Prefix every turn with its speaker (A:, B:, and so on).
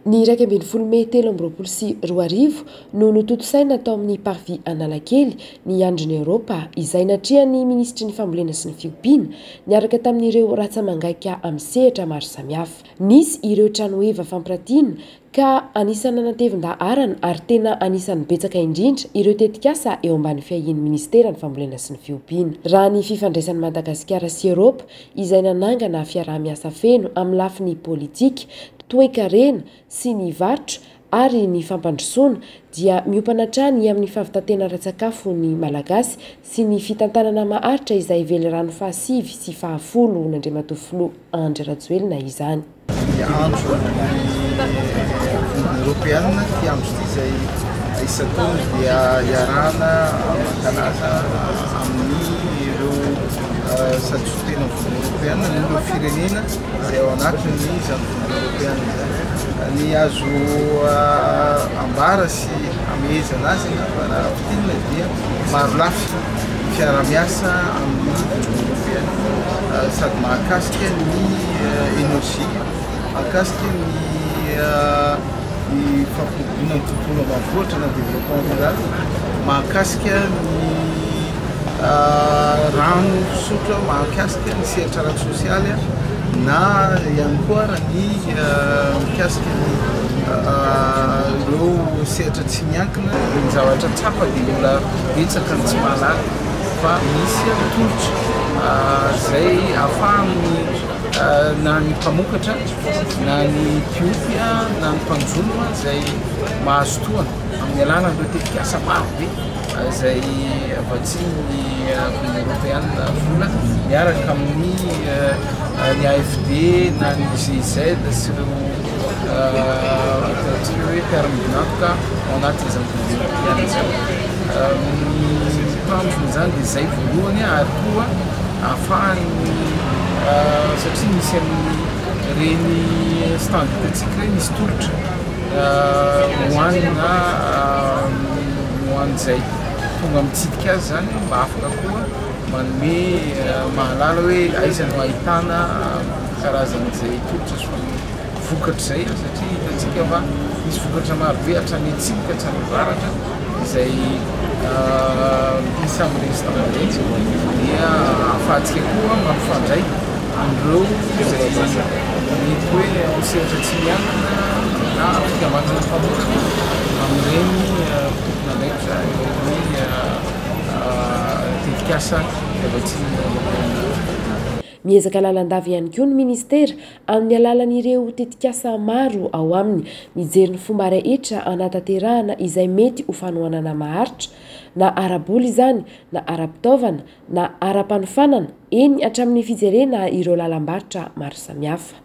A: Ny iraika ambin'ny folo mey telo amby roapolo sy roa arivo no notontosaina tao amin'ny Parvis Analakely ny Andron'i Eoropa izay natrehan'ny Minisitry ny Fambolena sy ny Fiompiana niaraka tamin'ireo ratsa-mangaika amin'ny sehatra maro samihafa. Nisy ireo tranoheva fampiratiana ka anisan'ny nanatevin-daharana ary tena anisan'ny betsaka indrindra ireo tetikasa eo ambany fiahian'ny Minisitera ny Fambolena sy ny Fiompiana. Raha ny fifandraisan'i Madagasikara sy Eropa izay nanangana fiaraha-miasa feno amin'ny lafiny politika, toekarena sy ny varotra ary ny fampandrosoana dia miompana hatrany amin'ny fahavitantena ara-tsakafo ny Malagasy sy ny fitantanana maharitra izay velirano fahasivy sy fahafolo nandriamatoa Filoha Andry Rajoelina izany. Miantso
B: ny Union Européenne hiantso ity izay isan-taona dia iarahana mankalaza amin'ireo satoritena ny Union Européenne ny ireo firenena izay ao anatin'ny izany Union Européenne izany. Ny azo ambara Tsy hamehezana azy ianao fa raha fintinina dia marolafy ny fiarahamiasa amin'ny Union Européenne sady mahakasika ny energie, mahakasika ny ny fampiroboroana ny tontolo ambanivohitra na développement rural, mahakasika ny. Rano fisotro mahakasika ny sehatra ara-tsosialy na ihany koa raha ny mikasika ny ireo sehatra tsy miankina dia ny zavatra tsapa dia mbola betsaka ny tsy mahalala fa misy tolotra izay ahafahan'ny na ny mpamokatra na ny mpiompy na ny mpanjono izay mahazo tohana amin'ny alalan'ireo tetikasa maro be. izay avy atsimon'ny Avenue Europeana vola miaraka amin'ny ny AFD na ny GIZ sy ireo ataontsika hoe terme dinantoka ao anatin'izany Conseil Europeana izany. Ny tanjona izany dia izay voalohany ary koa ahafahan'ny satria misy amin'ny ireny stand hitantsika ireny misy tolotra Hoanina na ho an'izay tonga mitsidika azy zany mba afaka koa manome mahalala hoe aiza no ahitana karazan'izay tolotra sy ny vokatry izay satria hitantsika fa misy vokatra maro be hatrany atsimo ka hatrany avaratra izay isan'ny restaurant dia ahafahantsika koa mampifandray an'ireo fitondran-tena, mety hoe ao sehatr'Atsimo-Andrefana na ao Fikambanana Mpanoratra, amin'ireny tompon'andraikitra eo amin'ny tetikasa avy atsy Andohalo.
A: Miezaka lalandava ihany koa ny Ministera amin'ny alalan'ireo tetikasa maro ao aminy, mijery ny fomba rehetra hanatanterahana izay mety ho fanohanana maharitra, na ara-bola izany na ara-pitaovana na ara-panofanana, eny hatramin'ny fijerena ireo lalam-barotra maro samihafa.